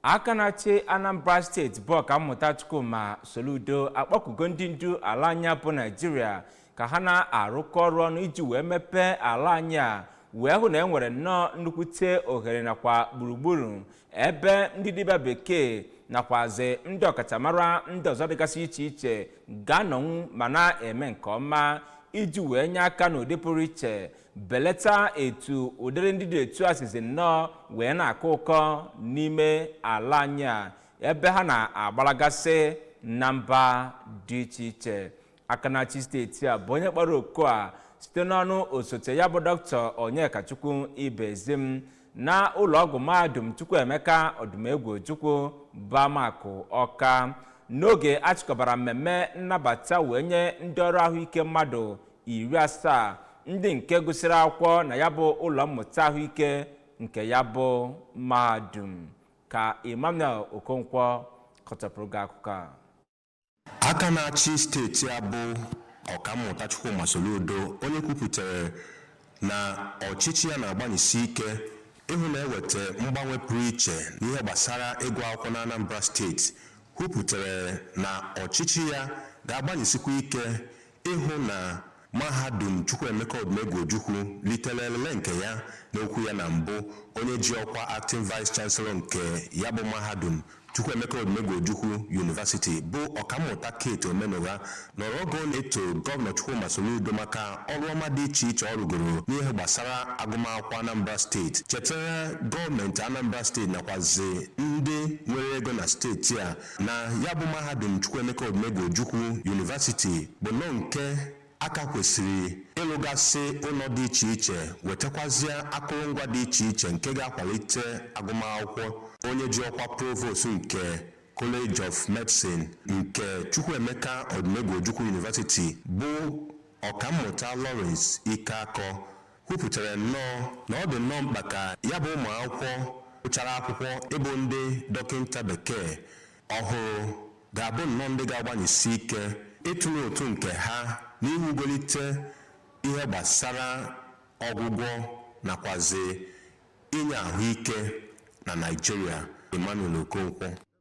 aka na-achị anambra steeti bụ ọkammụta chukwuma soludo akpọkugo ndị ndu ala anyị a bụ naijiria ka ha na-arụkọ ọrụ ọnụ iji wee mepee ala anyị a wee hụ na e nwere nnọọ nnukwute ohere nakwa gburugburu ebe ndị dibịa bekee nakwazi ndị ọkachamara ndị ọzọ dịgasị iche iche ga-anọnwu ma na-eme nke ọma iji wee nye aka n'ụdị pụrụ iche belata etu ụdịrị ndị dị etu a sizi nnọọ wee na-akọ ụkọ n'ime ala anyị a ebe ha na-agbalagasị na mba dị iche iche aka na-achị steeti a bụ onye kpọrọ oku a site n'ọnụ osote ya bụ doctor onyekachukwu ibezim na ụlọọgwụ mahadum chukwuemeka odumegwu ojukwu bụ amakụ ọka n'oge a chịkọbara mmemme nnabata wee nye ndị ọrụ ahụike mmadụ iri asaa ndị nke gụsịrị akwụkwọ na ya bụ ụlọ mmụta ahụike nke ya bụ mahadum ka emmanuel okonkwo kọtọpụrụ gị akụkọ a aka na-achị steeti a bụ ọkammụta chukwuma soludo onye kwupụtara na ọchịchị ya na-agbanyesi ike ịhụ na e weta mgbanwe pụrụ iche n'ihe gbasara ịgụ akwụkwọ na anambra steeti kwupụtara na ọchịchị ya ga-agbanyesikwa ike ịhụ na mahadum Chukwuemeka Odumegwu Ojukwu litere elele nke ya n'okwu ya na mbụ onye ji ọkwa acting vice chancellor nke ya bụ mahadum Chukwuemeka Odumegwu Ojukwu University bụ ọkammụta Kate Omenụgha nọrọ oge ọ na-eto gọvanọ Chukwuma Soludo maka ọrụ ọma dị iche iche ọ rụgoro n'ihe gbasara agụmakwụkwọ Anambra steeti chetara gọọmenti Anambra steeti nakwazi ndị nwere ego na steeti a na ya bụ mahadum Chukwuemeka Odumegwu Ojukwu University bụ nnọọ nke a ka kwesịrị ịlụgasị ụnọ dị iche iche wetakwazie akụrụngwa dị iche iche nke ga-akwalite agụmakwụkwọ onye ji ọkwa provost nke College of Medicine nke Chukwuemeka Odumegwu Ojukwu University bụ ọkammụta Lawrence Ikeakọ kwupụtara nnọọ na ọ dị nnọọ mkpa ka ya bụ ụmụ akwụkwọ gụchara akwụkwọ ịbụ ndị dọkịnta bekee ọhụrụ ga-abụ nnọọ ndị ga-agbanyesi ike ịtụnye ụtụ nke ha n'iwugolite ihe gbasara ọgwụgwọ nakwazi inye ahụike na Naịjirịa Emmanuel Okonkwo